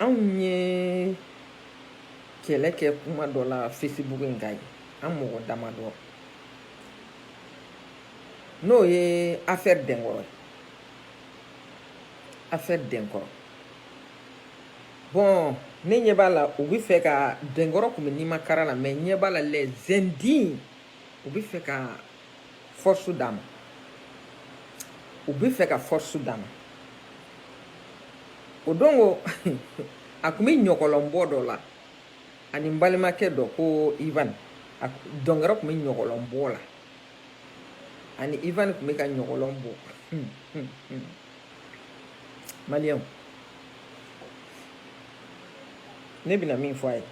anw ye kɛlɛ kɛ kuma dɔ la facebook in kan ye an mɔgɔ damadɔ n'o ye affaire denkɔrɔ ye affaire denkɔrɔ bon ne ɲɛ b'a la u bɛ fɛ ka denkɔrɔ kun bɛ nima kara la mais ɲɛ b'a la les indignes u bɛ fɛ ka force d'a ma u bɛ fɛ ka force d'a ma o don ko a kun bɛ ɲɔgɔlɔnbɔ dɔ la ani n balimakɛ dɔ ko ivan denkɔrɔ kun bɛ ɲɔgɔlɔnbɔ la ani ivan kun bɛ ka ɲɔgɔlɔn bɔ maliyɛnw ne bɛna min fɔ a ye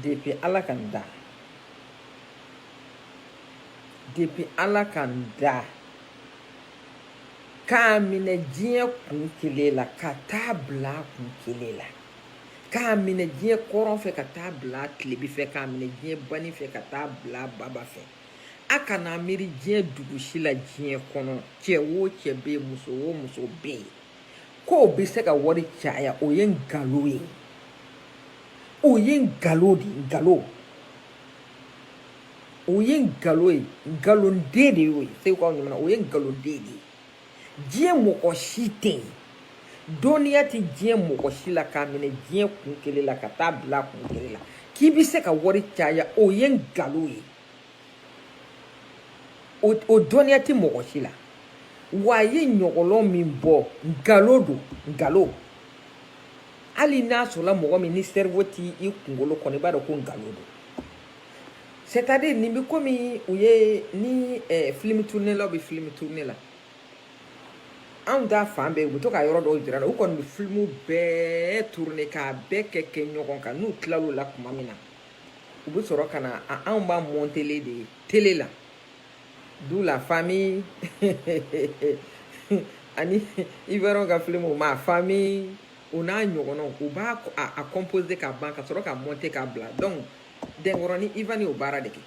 Depuis ala ka n da depuis ala ka n da k'a minɛ diɲɛ kun kelen la ka taa bila kun kelen la k'a minɛ diɲɛ kɔrɔn fɛ ka taa bila tilebi fɛ k'a minɛ diɲɛ bani fɛ ka taa bila baba fɛ a kana miiri diɲɛ dugu si la diɲɛ kɔnɔ cɛ wo cɛ bɛ yen muso wo muso bɛ yen k'o bɛ se ka wari caya o ye nkalon ye o ye nkalon de nkalon o ye nkalon ye nkalonden de y'o ye segukaw ɲamana o ye nkalonden de ye diɲɛ mɔgɔ si tɛ yen dɔnniya tɛ diɲɛ mɔgɔ si la k'a minɛ diɲɛ kun kelen la ka taa bila kun kelen la k'i bɛ se ka wari caya o ye nkalon ye o dɔnniya tɛ mɔgɔ si la wa a ye ɲɔgɔlɔn min bɔ nkalon don nkalon hali n'a sɔrɔla mɔgɔ min ni cerveau t'i kunkolo kɔnɔ i b'a dɔn ko nkalon don c'est à dire nin bɛ komi u ye ni film tournelaw bɛ film tourner la anw ta fan bɛɛ u bɛ to ka yɔrɔ dɔw jira la u kɔni bɛ filimu bɛɛ tourner k'a bɛɛ kɛ kɛ ɲɔgɔn kan n'u tilal'o la tuma min na u bɛ sɔrɔ ka na anw b'a mɔntelen de ye tele la du la famille ani ivoiriyɛnw ka filimu ma famille o n'a ɲɔgɔnnaw u b'a composer ka ban ka sɔrɔ k'a monter k'a bila donc denkɔrɔ ni ivan y'o baara de kɛ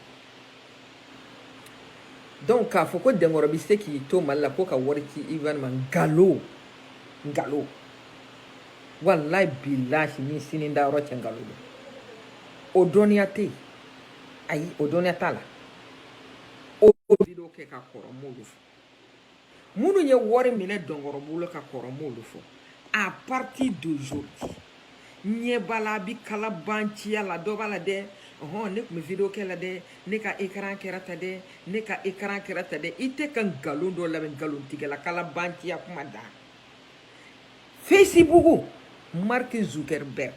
donc k'a fɔ ko denkɔrɔ bɛ se k'i to mali la ko ka wari ci ivan ma nkalon nkalon walayi bilahi ni sini da yɔrɔ cɛ nkalon don o dɔnniya tɛ yen ayi o dɔnniya t'a la o video kɛ ka kɔrɔ n m'olu fɔ minnu ye wari minɛ denkɔrɔ bolo ka kɔrɔ n m'olu fɔ à partir d'aujourd'hui ɲɛ b'a la a bi kalabanciya la dɔ b'a la dɛ ɔhɔn ne tun bɛ video kɛ la dɛ ne ka ekaran kɛra ta dɛ ne ka ekaran kɛra ta dɛ i tɛ ka nkalon dɔ lamɛn nkalontigɛla kalabanciya kuma dan Facebook Mark Zuckerberg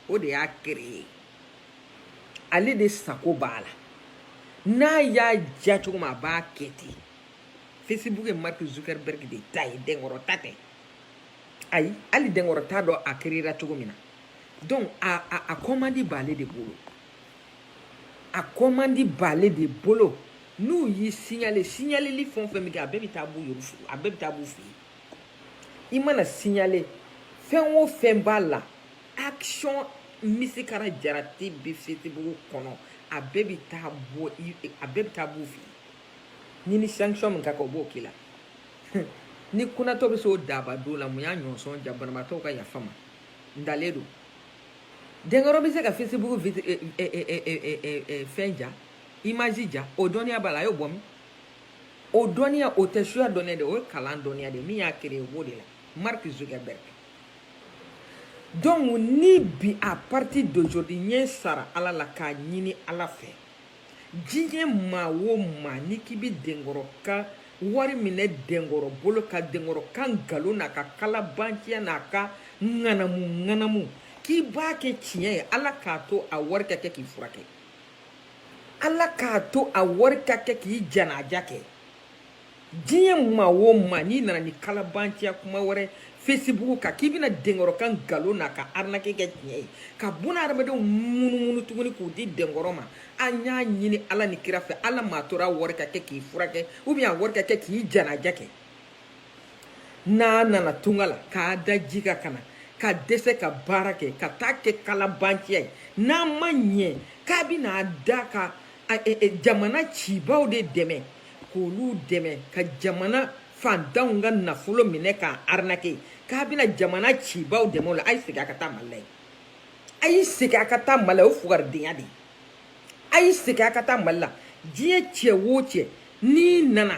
o de y'a créé ale de sago b'a la n'a y'a diya cogo min a b'a kɛ ten Facebook ye Mark Zuckerberg de ta ye Denkɔrɔ ta tɛ ayi hali Denkɔrɔ t'a dɔn a créera cogo min na donc a a a kɔmandi b'ale de bolo a kɔmandi b'ale de bolo n'u y'i signale signaleli fɛn o fɛn bɛ kɛ a bɛɛ bɛ taa b'u yɛrɛ fɛ a bɛɛ bɛ taa b'u fɛ yen i mana signale fɛn o fɛn b'a la action misikara jarati bɛ fesibugu kɔnɔ a bɛɛ bɛ taa bɔ a bɛɛ bɛ taa b'u fɛ yen ni sanction min ka kan o b'o k'i la ni kunatɔ bɛ se o daba don la mun y'a ɲɔnsɔn ja banabaatɔw ka yafa n ma ntalen don denkɔrɔ bɛ se ka fesibugu fɛn ja image ja o dɔnniya b'a la a y'o bɔ min o dɔnniya o tɛ suya dɔnniya de o ye kalan dɔnniya de min y'a créé o b'o de la mark zuckerberg donc ni bi à partir d'aujourd'hui ɲɛ sara ala la k'a ɲini ala fɛ diɲɛ maa o maa ni k'i bi denkɔrɔ ka wari minɛ denkɔrɔ bolo ka denkɔrɔ ka nkalon n'a ka kalabanciya n'a ka ŋanamu ŋanamu k'i b'a kɛ tiɲɛ ye ala k'a to a wari ka kɛ k'i furakɛ ala k'a to a wari ka kɛ k'i janaja kɛ diɲɛ maa o maa n'i nana ni kalabanciya kuma wɛrɛ fesibugu kan k'i bɛna denkɔrɔ ka nkalon n'a ka arinake kɛ tiɲɛ ye ka buna hadamadenw munumunu tuguni k'u di denkɔrɔ ma an y'a ɲini ala ni kira fɛ ala m'a tora a wari ka kɛ k'i furakɛ ou bien a wari ka kɛ k'i janaja kɛ n'a nana tunga la k'a da ji ka kana ka dɛsɛ ka baara kɛ ka taa kɛ kalabanciya ye n'a ma ɲɛ k'a bɛna da ka a, e, e, jamana cibaw de dɛmɛ k'olu dɛmɛ ka jamana fantanw ka nafolo minɛ k'a arinake k'a bɛna jamana cibaw dɛmɛ o la a y'i segin a ka taa mali la yen a y'i segin a ka taa mali la o ye fugaridenya de ye a y'i segin a ka taa mali la diɲɛ cɛ wo cɛ n'i nana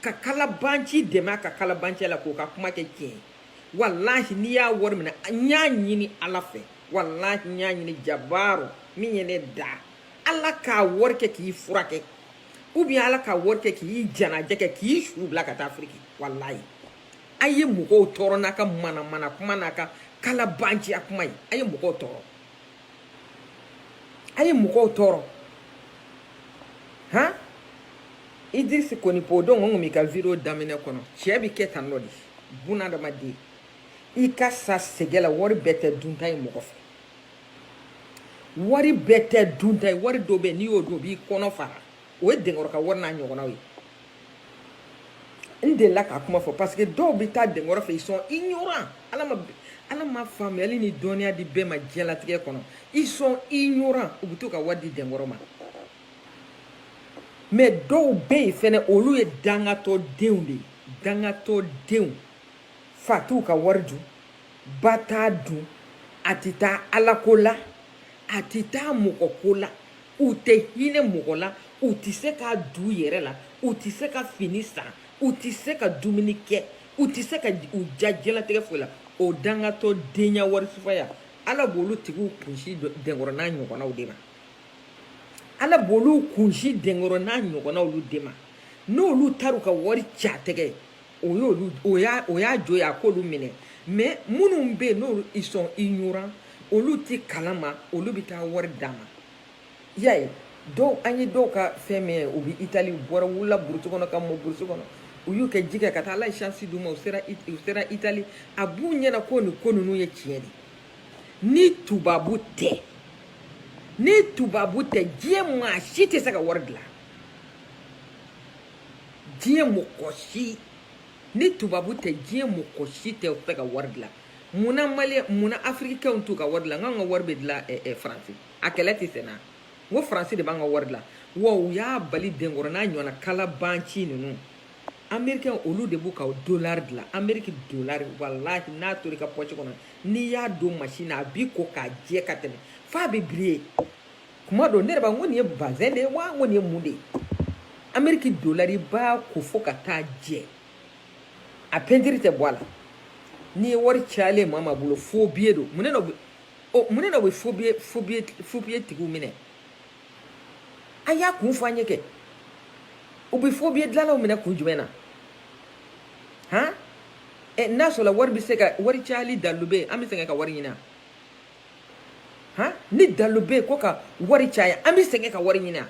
ka kalabanci dɛmɛ a ka kalabanciya la k'o ka kuma kɛ tiɲɛ ye walahi n'i y'a wari minɛ n y'a ɲini ala fɛ walahi n y'a ɲini jabaru min ye ne da ala k'a wari kɛ k'i furakɛ ou bien ala k'a wari kɛ k'i janaja kɛ k'i su bila ka taa afiriki walahi a ye mɔgɔw tɔɔrɔ n'a ka manamana kuma n'a ka kalabanciya kuma ye a ye mɔgɔw tɔɔrɔ a ye mɔgɔw tɔɔrɔ han idirisi konipo don n kun b'i ka video daminɛ kɔnɔ cɛɛ bi kɛ tan nɔ de buna adamaden i ka sa sɛgɛn la wari bɛɛ tɛ dunta ye mɔgɔ fɛ wari bɛɛ tɛ dunta ye wari dɔ bɛ n'i y'o dun o b'i kɔnɔ fara o ye denkɔrɔ ka wari n'a ɲɔgɔnnaw ye n delila k'a kuma fɔ parce que dɔw bɛ taa denkɔrɔ fɛ ils sont ignorants ala ma ala ma faamuyali ni dɔnniya di bɛɛ ma diɲɛlatigɛ kɔnɔ ils sont ignorants u bɛ to ka wari di denkɔrɔ ma mais dɔw bɛ yen fɛnɛ olu ye dangatɔ denw de ye dangatɔ denw fa t'u ka wari dun ba t'a dun a tɛ taa ala ko la a tɛ taa mɔgɔ ko la u tɛ hinɛ mɔgɔ la u tɛ se k'a d'u yɛrɛ la u tɛ se ka fini san u tɛ se ka dumuni kɛ u tɛ se ka u ja diɲɛlatigɛ foyi la o dangatɔ denya warisufaya ala b'olu tigiw kunsi denkɔrɔ n'a ɲɔgɔnnaw de ma ala b'olu kunsi denkɔrɔ n'a ɲɔgɔnnaw olu de ma n'olu taara u ka wari c'a tɛgɛ o y'olu o y'a o y'a jo ye a k'olu minɛ mais minnu bɛ yen n'olu ils sont ignorants olu t'a kalama olu bɛ taa wari d'a ma i y'a ye dɔw an ye dɔw ka fɛn min ye u bɛ itali u bɔra wulila burusi kɔnɔ ka mɔ burusi kɔnɔ u y'u kɛ ji kɛ ka taa ala ye shansi d'u ma u sera It- u sera itali a b'u ɲɛna ko nin ko ninnu ye tiɲɛ de ye ni tubabu tɛ ni tubabu tɛ diɲɛ maa si tɛ se ka wari dilan diɲɛ mɔgɔ si ni tubabu tɛ diɲɛ mɔgɔ si tɛ se ka wari dilan munna mali munna afirikɛnw t'u ka wari dilan k'an ka wari bɛ dilan eh, eh, faransi a kɛlɛ tɛ senna n ko faransi de b'an ka wari dilan wa u y'a bali denkɔrɔ n'a ɲɔgɔnna kalabanci ninnu amerikɛn olu de b'u ka dolari dilan ameriki dolari walahi n'a tor'i ka pɔsi kɔnɔ n'i y'a don masini na a b'i ko k'a jɛ ka tɛmɛ f'a bɛ briller kuma dɔ ne yɛrɛ b'a ko nin ye bazɛn de ye wa n ko nin ye mun de ye ameriki dolari i b'a ko fo ka taa jɛ a pentiri tɛ bɔ a la n'i ye wari cayalen maa maa bolo faux billet don mun ne na u bɛ u mun ne na u bɛ faux billet faux billet faux billet tigiw minɛ a y'a kun fɔ an ye kɛ u bɛ faux billet dilanlaw minɛ kun jumɛn na han ɛ n'a sɔrɔ wari bɛ se ka wari cayali dalilu bɛ yen an bɛ sɛgɛn ka wari ɲini a han ni dalu bɛ yen ko ka wari caya an bɛ sɛgɛn ka wari ɲini a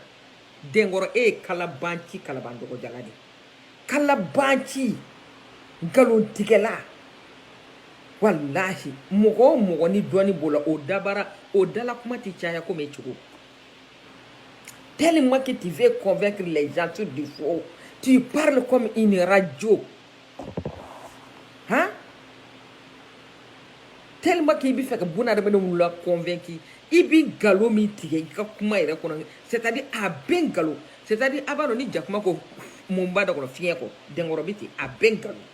denkɔrɔ e ye kalabanci kalaban dɔgɔjala de kalabanci nkalontigɛla walahi mɔgɔ o mɔgɔ ni dɔnni b'o la o dabara o dala kuma tɛ caya komi e cogo tellement que tu veux convaincre les gens sur du faux tu parles comme une radio han tellement que i b'a fɛ ka buna adamadenw la convaincu i bɛ nkalon min tigɛ i ka kuma yɛrɛ kɔnɔ c'est à dire a bɛɛ nkalon c'est à dire a b'a dɔn ni jakuma ko mun b'a da kɔnɔ fiɲɛ kɔ denkɔrɔ bɛ ten a bɛɛ nkalon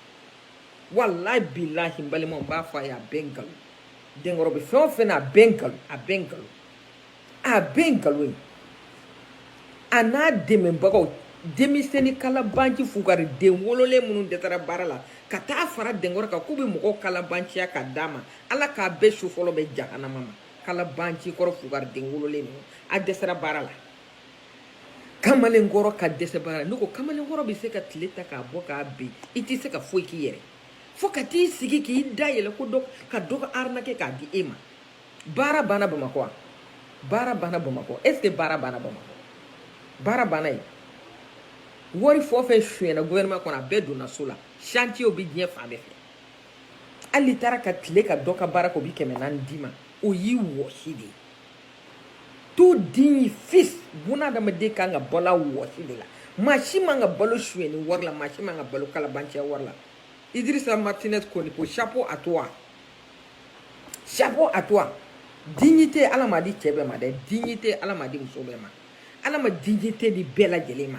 walayi bilahi n balimaw n b'a fɔ a ye a bɛɛ nkalon denkɔrɔ bɛ fɛn o fɛn na a bɛɛ nkalon a bɛɛ nkalon a bɛɛ nkalon ye a n'a dɛmɛbagaw denmisɛnnin kalabanci fugari den wololen minnu dɛsɛra baara la ka taa fara denkɔrɔ kan k'u bɛ mɔgɔw kalabanciya ka d'a ma ala k'a bɛɛ su fɔlɔ bɛn jahanama ma kalabanci kɔrɔ fugari den wololen ninnu a dɛsɛra baara la kamalen kɔrɔ ka dɛsɛ baara la ne ko kamalen kɔrɔ bɛ se ka tile ta k'a bɔ k'a bin i tɛ se ka foyi k'i yɛrɛ fo ka t'i sigi k'i da yɛlɛ ko dɔ ka dɔ ka arnaquer k'a di e ma baara banna bamakɔ wa baara banna bamakɔ est ce que baara banna bamakɔ baara banna yen wari fɔ fɛn sonyɛna gouvernement kɔnɔ a bɛɛ donna so la chantier bɛ diɲɛ fan bɛɛ fɛ hal'i taara ka tile ka dɔ ka baara kɛ o bɛ kɛmɛ naani d'i ma o y'i wɔsi de ye tout digne fils bunadamaden kan ka balo a wɔsi de la maa si man ka balo sonyɛni wari la maa si man ka balo kalabanciya wari la idrissa martinez konipo chapeau à toi Chapeau à toi. Dignité ala m'a di cɛ bɛɛ ma dɛ dignité ala m'a di muso bɛɛ ma ala ma dignité di bɛɛ lajɛlen ma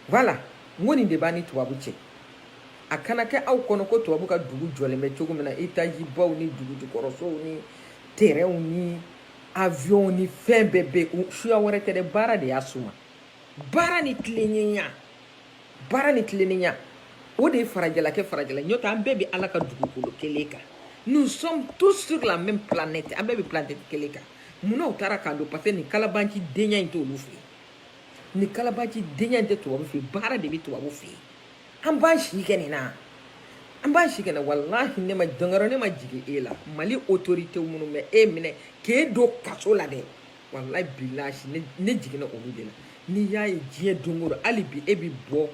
voilà n ko nin de b'an ni tubabu cɛ a kana kɛ aw kɔnɔ ko tubabu ka dugu jɔlen bɛ cogo min na etazi baw ni dugu jukɔrɔsow ni terɛnw ni avion ni fɛn bɛɛ bɛ suya wɛrɛ tɛ dɛ baara de y'a suma baara ni tilennenya baara ni tilennenya o de ye farajɛla kɛ farajɛla n'o tɛ an bɛɛ bɛ ala ka dugukolo kelen kan nous sommes tous sur la même planète an bɛɛ bɛ planète kelen kan munna u taara k'an dan parce que nin kalabanci denya in t'olu fɛ yen nin kalabanci denya in tɛ tubabu fɛ yen baara de bɛ tubabu fɛ yen an b'an si kɛ nin na an b'an si kɛ nin na walahi ne ma denkɔrɔ ne ma jigin e la mali autorité minnu ma e minɛ k'e don kaso la dɛ walayi bilahi ne ne jiginna olu de la n'i y'a ye diɲɛ don o don hali bi e bɛ bɔ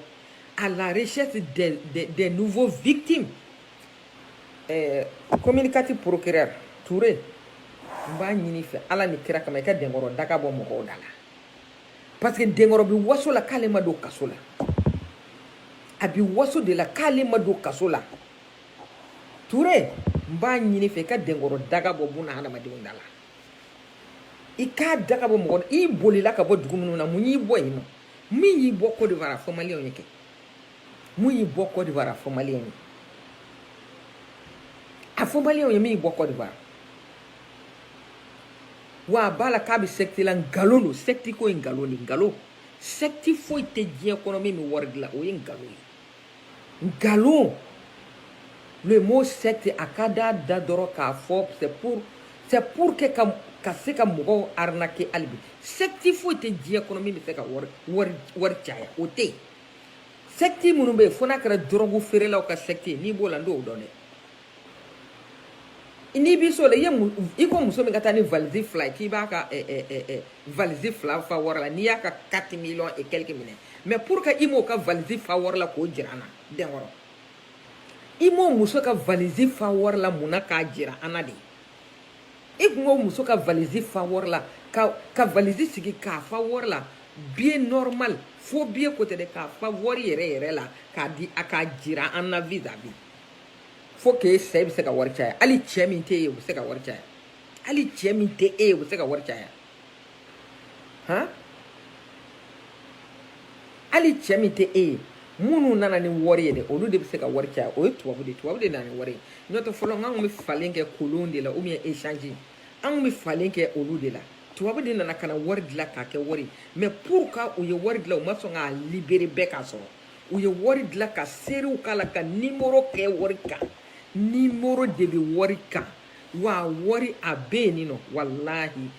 à la recherche des des des nouveaux victimes ɛɛ communicatif procureur Toure n b'a ɲini i fɛ ala ni kira kama i ka denkɔrɔ daga bɔ mɔgɔw da la parce que denkɔrɔ bɛ waso la k'ale ma don kaso la a bɛ waso de la k'ale ma don kaso la Toure n b'a ɲini i fɛ i ka denkɔrɔ daga bɔ buna hadamadenw da la. i k'a daga bɔ mɔgɔ i bolila ka bɔ dugu minnu na mun y'i bɔ yen nɔ min y'i bɔ Côte d'Ivoire a fɔ maliyɛnw ye kɛ mun y'i bɔ Côte d'Ivoire a fɔ maliyɛnw ye a fɔ maliyɛnw ye min y'i bɔ Côte d'Ivoire wa a b'a la k'a bɛ secte la nkalon don secte ko ye nkalon de nkalon secte foyi tɛ diɲɛ kɔnɔ min bɛ wari dilan o ye nkalon ye Nkalon le mot secte a ka d'a da dɔrɔn k'a fɔ c'est pour c'est pour que ka ka se ka mɔgɔw arnaquer hali bi secte foyi tɛ diɲɛ kɔnɔ min bɛ se ka wari wari wari caya o tɛ yen secte minnu bɛ yen fo n'a kɛra dɔrɔgu feerelaw ka secte n'i b'o la n t'o dɔn dɛ n'i b'i so la i ye i ko muso min ka taa ni valise fila ye k'i b'a ka valise fila fa wari la n'i y'a ka quatre millions et quelques minɛ mais pourquoi i m'o ka valise fa wari la k'o jira an na denkɔrɔ i m'o muso ka valise fa wari la mun na k'a jira an na de i tun b'o muso ka valise fa wari la ka ka valise sigi k'a fa wari la bien normal fo bien ko tɛ dɛ k'a fa wari yɛrɛ yɛrɛ la k'a di a k'a jira an na vis à vis fo k'e sa e bɛ se ka wari caya hali cɛ min tɛ e ye o bɛ se ka wari caya hali cɛ min tɛ e ye o bɛ se ka wari caya han hali cɛ min tɛ e ye minnu nana ni wari ye dɛ olu de bɛ se ka wari caya o ye tubabu de ye tubabu de nana ni wari ye n'o tɛ fɔlɔ n k'an kun bɛ falen kɛ kolon de la ou bien échange an kun bɛ falen kɛ olu de la tubabu de nana ka na wari dilan k'a kɛ wari mais pourquoi u ye wari dilan u ma sɔn k'a libérer bɛɛ k'a sɔrɔ u ye wari dilan ka seriw k'a la ka nimoro kɛ wari kan nimoro de bɛ wari kan wa wari a bɛ yen nɔ walahi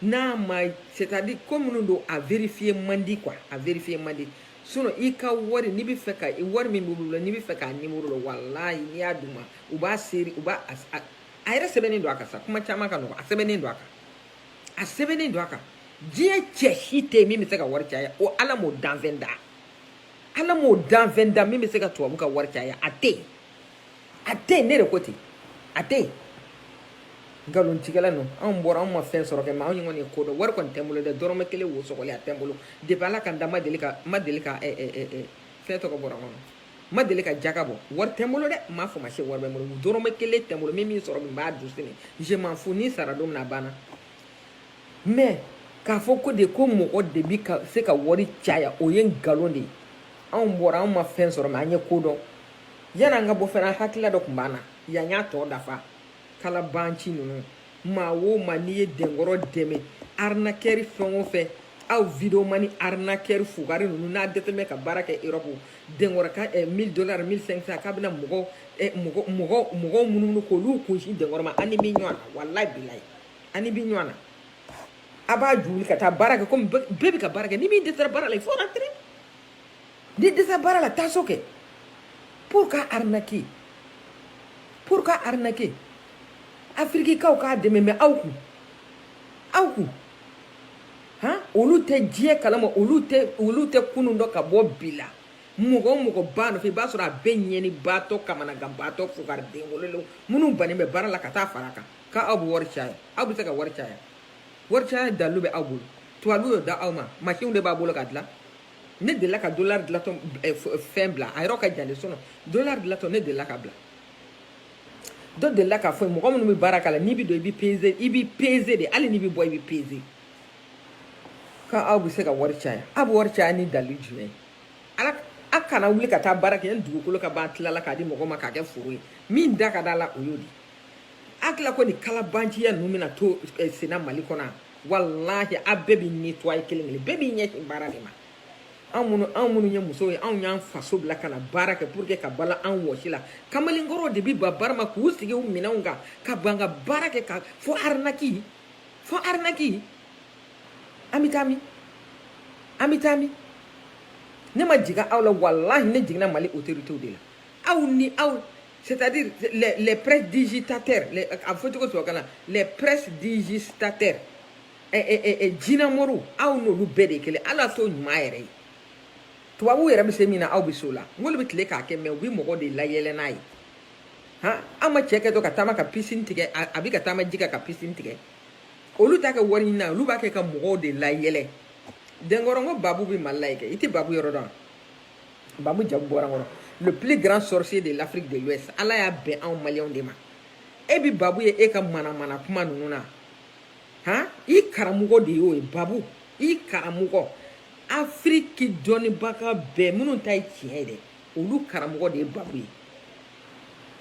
n'a ma c'est à dire ko minnu don a vérifier man di quoi a vérifier man di sinon i ka wari n'i bɛ fɛ ka wari min b'olu la n'i bɛ fɛ k'a nimoro dɔn walahi n'i y'a d'u ma u b'a seere u b'a a a yɛrɛ sɛbɛnnen don a kan sa kuma caman ka nɔgɔn a sɛbɛnnen don a kan a sɛbɛnnen don a kan diɲɛ cɛ si tɛ yen min bɛ se ka wari caya o ala m'o danfɛn da ala m'o danfɛn da min bɛ se ka tubabu ka wari caya a tɛ yen a tɛ yen ne de ko ten a tɛ yen nkalontigɛla ninnu anw bɔra anw ma fɛn sɔrɔ kɛ mais anw kɔni ye ko dɔn wari kɔni tɛ n bolo dɛ dɔrɔmɛ kelen wo sɔgɔlen a tɛ n bolo depuis ala ka n da ma deli ka ma deli ka eh, eh, eh, fɛn tɔgɔ bɔra kɔnɔ ma deli ka jaka bɔ wari tɛ n bolo dɛ n m'a fɔ ma se wari bɛ n bolo dɔrɔmɛ kelen tɛ n bolo min min sɔrɔ min b'a dun sini je m'en fous ni sara don min na a banna mɛ k'a fɔ ko de ko mɔgɔ de bi ka se ka wari caya o ye nkalon de ye anw bɔra anw ma fɛn sɔrɔ mɛ an ye ko dɔn yan'an ka bɔ fana hakilila dɔ tun b'an na yan y'a tɔ dafa kalabanci ninnu maa o maa n'i ye denkɔrɔ dɛmɛ arnaqueur fɛn o fɛn aw vidéoman arnaqueur fugari ninnu n'a dɛsɛlen bɛ ka baara kɛ erɔpu denkɔrɔ ka eh, 1000 dollars 1500 k'a bɛna mɔgɔ eh, mɔgɔ mɔgɔ munumunu k'olu kunsin denkɔrɔ ma an n'i bɛ ɲɔgɔn na walayi bilayi an n'i bɛ ɲɔgɔn na a b'a ju wuli ka taa baara kɛ komi bɛɛ bɛ ka baara kɛ ni min dɛsɛra baara la il faut rentrer ni dɛsɛra baara la taa so kɛ pour ka arnaquer pour ka arnaquer afirikikaw k'a dɛmɛ mɛ aw kun aw kun han olu tɛ diɲɛ kalama olu tɛ olu tɛ kunun dɔn ka bɔ bi la mɔgɔ o mɔgɔ b'a nɔfɛ i b'a sɔrɔ a bɛɛ ɲɛnibaatɔ kamanaganbaatɔ fugariden wololenw minnu bannen bɛ baara la ka taa fara kan k'aw bɛ wari caya aw bɛ se ka wari caya wari caya dalu bɛ aw bolo tubabu y'o da aw ma masin de b'a bolo k'a dilan ne delila ka dolari dilatɔ eh, fɛn bila a yɔrɔ ka jan de sinon dolari dilatɔ ne delila ka bila dɔ delila k'a fɔ mɔgɔ minnu bɛ baara k'a la n'i bɛ don i bɛ peze i bɛ peze de hali n'i bɛ bɔ i bɛ peze ko aw bɛ se ka wari caya aw bɛ wari caya ni dalu jumɛn ye ala a kana wuli ka taa baara kɛ ni dugukolo ka ban tilala k'a di mɔgɔ ma k'a kɛ foro ye min da ka d'a la o y'o de ye a tila ko nin kalabanciya ninnu bɛna to eh, senna mali kɔnɔ yan walahi a bɛɛ bi nettoyer kelen kelen bɛɛ b'i ɲɛsin baara de ma anw minnu anw minnu ye musow ye anw y'an faso bila ka na baara kɛ pour que ka balo anw wɔsi la kamalenkɔrɔw de bi ban baara ma k'u sigi u minɛnw kan ka ban ka baara kɛ ka fo arnaque fo arnaque an bɛ taa min an bɛ taa min ne ma jigin aw la walahi ne jiginna mali autoritew de la aw ni aw c'est à dire les les prestidigitateurs les a fɔ cogo tubabukan na les prestidigitateurs ɛ ɛ ɛ ɛ jinamoriw aw n'olu bɛɛ de ye kelen hali a t'o ɲuman yɛrɛ ye tubabuw yɛrɛ bɛ se min na aw bɛ se o la nk'olu bɛ tile k'a kɛ mɛ u bɛ mɔgɔ de layɛlɛ n'a ye han aw ma cɛ kɛtɔ ka taama ka pisini tigɛ a a bɛ ka taama ji kan ka pisini tigɛ olu t'a kɛ wari ɲini na olu b'a kɛ ka mɔgɔw de layɛlɛ denkɔrɔ n ko babu bɛ mali la yen kɛ i tɛ babu yɔrɔ dɔn wa. babu jamu bɔra n kɔnɔ le plus grand sorcier de l'afrique de l'ouest ala y'a bɛn anw maliyɛnw de ma e bi babu ye e ka manamana kuma ninnu na han i karamɔgɔ de y'o ye babu i karamɔgɔ afiriki dɔnnibaga bɛɛ minnu ta ye tiɲɛ ye dɛ olu karamɔgɔ de ye babu ye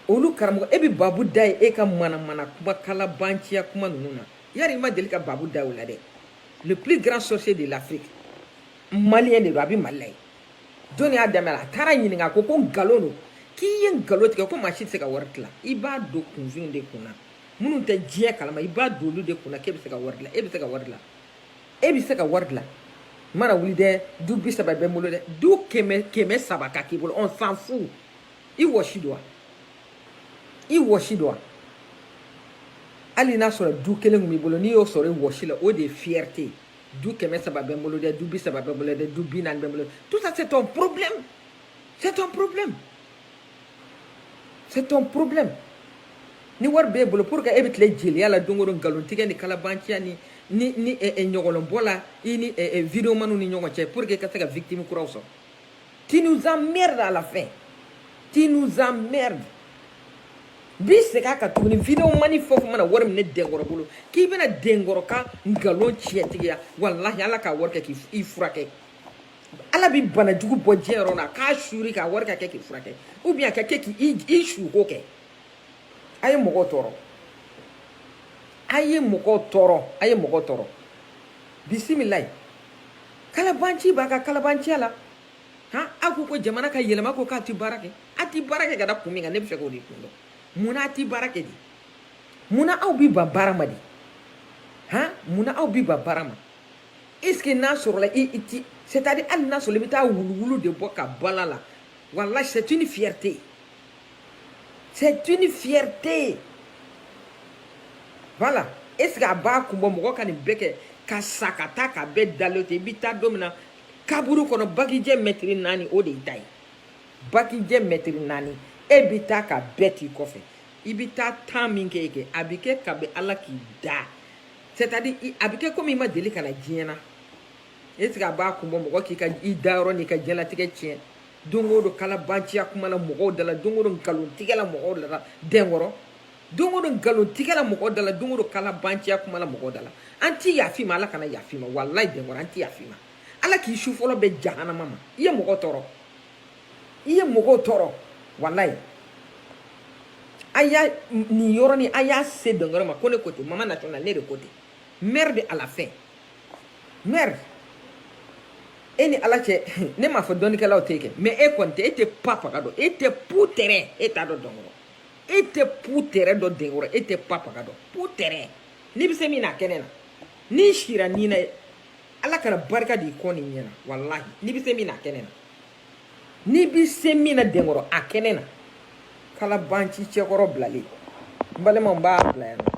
olu karamɔgɔ e bɛ babu da ye e ka manamana kuma kalabanciya kuma ninnu na yari i ma deli ka babu da o la dɛ le plus grand sorcier de l'afrique maliyɛn de don a bɛ mali la ye jɔni y'a dɛmɛ la a taara ɲininka ko ko nkalon don k'i ye nkalon tigɛ ko maa si tɛ se ka wari dilan i b'a don kunfinw de kunna minnu tɛ diɲɛ kalama i b'a don olu de kunna k'e bɛ se ka wari dilan e bɛ se ka wari dilan e bɛ se ka wari dilan i mana wuli dɛ du bi saba bɛ n bolo dɛ du kɛmɛ kɛmɛ saba ka k'i bolo on s'en fout i wɔsi don wa i wɔsi don wa hali n'a sɔrɔ du kelen tun b'i bolo n'i y'o sɔrɔ i wɔsi la o de ye fierté ye du kɛmɛ saba bɛ n bolo dɛ du bi saba bɛ n bolo dɛ du bi naani bɛ n bolo tout ça c'est ton problème c'est ton problème c'est ton problème ni wari b'e bolo pour que e bɛ tile jeliya la don o don nkalon tigɛ ni kalabanciya ni ni ni ɲɔgɔlɔnbɔ la i ni videomaniw ni ɲɔgɔn cɛ pour que i ka se ka victime kuraw sɔrɔ Tu nous emmerdes à la fin. Tu nous emmerdes. bi segin a kan tuguni videomani fɛn o fɛn mana wari minɛ denkɔrɔ bolo k'i bɛna denkɔrɔ ka nkalon tiɲɛtigiya walahi ala k'a wari kɛ k'i furakɛ ala bi bana jugu bɔ diɲɛ yɔrɔ la k'a suur'i kan a wari ka kɛ k'i furakɛ ou bien a ka kɛ k'i suko kɛ a ye mɔgɔw tɔɔrɔ a ye mɔgɔw tɔɔrɔ a ye mɔgɔw tɔɔrɔ bisimilayi kalabanci b'a ka kalabanciya la han aw ko ko jamana ka yɛlɛma ko k'a ti baara kɛ a ti baara kɛ ka da kun min kan ne bɛ fɛ k'o de kun dɔn munna a ti baara kɛ di munna aw bi ban baara ma di han munna aw bi ban baara ma est ce que n'a sɔrɔla i i ti c'est à dire hali n'a sɔrɔ i bɛ taa wuluwulu de bɔ ka bal'a la walahi c'est une fierté C'est une fierté. Voilà. Est-ce que a b'a kun bɔ mɔgɔ ka nin bɛɛ kɛ ka sa ka taa ka bɛɛ dalen to i bɛ taa don min na kaburu kɔnɔ bagijɛ mɛtiri naani o de y'i ta ye bagijɛ mɛtiri naani e bɛ taa ka bɛɛ t'i kɔfɛ i bɛ taa temps min kɛ yen kɛ a bɛ kɛ kabi ala k'i da c'est à dire a bɛ kɛ komi i ma deli ka na diɲɛ na est ce que a b'a kun bɔ mɔgɔ k'i ka i dayɔrɔ n'i ka diɲɛlatigɛ tiɲɛ don o don kalabanciya kuma la mɔgɔw da la don o don nkalontigɛ la mɔgɔw da la denkɔrɔ don o don nkalontigɛ la mɔgɔw da la don o don kalabanciya kuma la mɔgɔw da la an ti yaf'i ma ala kana yaf'i ma walayi denkɔrɔ an ti yaf'i ma ala k'i su fɔlɔ bɛn jahanama ma i ye mɔgɔ tɔɔrɔ i ye mɔgɔw tɔɔrɔ walayi a y'a nin yɔrɔnin a y'a se denkɔrɔ ma ko ne ko ten mama national ne de ko ten merde à la fin merde e ni ala cɛ ne m'a fɔ dɔnnikɛlaw tɛ kɛ mais e kɔni tɛ e tɛ pa paga dɔn e tɛ pu tɛrɛ e t'a dɔn denkɔrɔ e tɛ pu tɛrɛ dɔn denkɔrɔ e tɛ pa paga dɔn pu tɛrɛ n'i bɛ se min na a kɛnɛ na n'i siranna ala kana barika d'i kɔ n'i ɲɛ na walahi n'i bɛ se min na a kɛnɛ na n'i bɛ se min na denkɔrɔ a kɛnɛ na kalabanci cɛkɔrɔ bilalen n balimaw n b'a bila yan nɔ